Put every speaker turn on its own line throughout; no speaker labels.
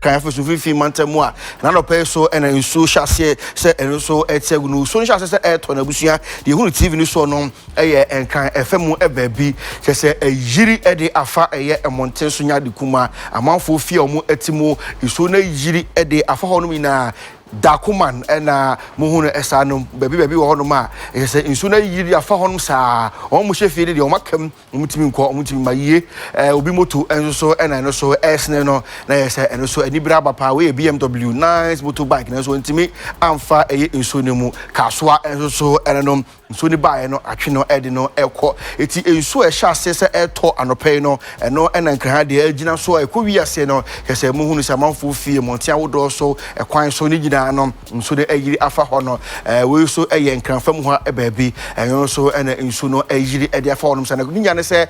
Kan Efeso mfinimfini mantam mu a, na anɔpa yi so na nsuo hyɛ aseɛ sɛ ɛno nso ɛte agu no. Nsuo no hyɛ aseɛ sɛ ɛretɔ no abusua. Deɛ ɛhunu TV no soɔ no yɛ nkan ɛfa mu baabi. Kyɛ sɛ ayiri de afa ɛyɛ mmɔnten so nya de kuma amanfoɔ fie a wɔn te mu. Nsuo no ayiri de afa hɔnom nyinaa. Dakoman na mohu no saa no. Baabi baabi wɔ hɔnom a, ɛyɛ sɛ nsuo no ayiri de afa hɔnom saa. Wɔn a wɔhyɛ fie no deɛ wɔn aka mu. Wɔn tumi nkɔ wɔn tumi ma yie. Ɛɛ obi moto nso so ɛna ɛno so ɛresene no na yɛ sɛ ɛno so anibere aba paa wei yɛ BMW nice moto bike nanso wɔn tumi amfa ɛyɛ nsuo no mu kaasoa nso so ɛna nom nsuo no baeɛ no atwe no ɛde no ɛkɔ eti nsuo ɛhyɛ aseɛ sɛ ɛtɔ anɔpɛ yi no ɛno ɛna nkraha deɛ ɛgyina so a ɛkɔ wi aseɛ no kyɛ sɛ mohunu sɛ amanfoɔ fie mmɔnten ahodoɔ so ɛkwan so ne nyinaa no. nsu no ayiri afa hɔ no. Wei nso yɛ Nkran fam hɔ baabi. Ɛno nso na nsu no ayiri de afa hɔnom saa. Na ne nya ne sɛ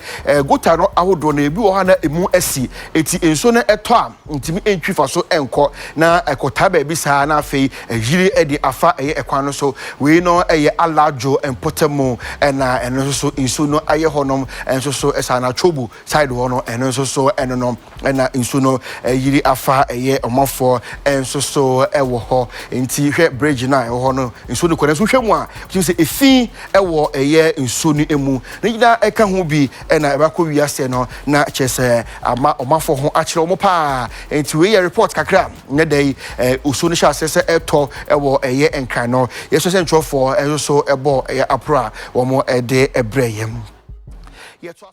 gota no ahodoɔ no, ebi wɔ hɔ a na emu asi. Eti nsu no tɔ a, ntumi ntwi fa so nkɔ. Na ɛkɔtaa baabi saa na afei ayiri de afa ɛyɛ kwan no so. Wei no yɛ Alajo mpɔtam mu na ɛno nso so nsu no ayɛ hɔnom nso so saa. Na Chobu side hɔ no, ɛno nso so ɛno no. na nsuo no ayiri afa ɛyɛ ɔmanfoɔ nso so wɔ hɔ nti hwɛ bridge no a ɛwɔ hɔ no nsuo no kɔ nanso hwɛ mu a wotumi sɛ efi wɔ ɛyɛ nsuo no emu ne nyinaa ɛka ho bi na ɛbɛkɔ wi aseɛ no na kyerɛ sɛ ama ɔmanfoɔ ho akyerɛ wɔn paa nti wei yɛ report kakra nyɛ dɛ yi osuo no hyɛ aseɛ sɛ ɛtɔ wɔ ɛyɛ nkran no yɛsɛ sɛ nkyerɛfoɔ ɛso so ɛbɔ ɛyɛ aporo a wɔn ɛde ɛbrɛ yɛm yɛtɔ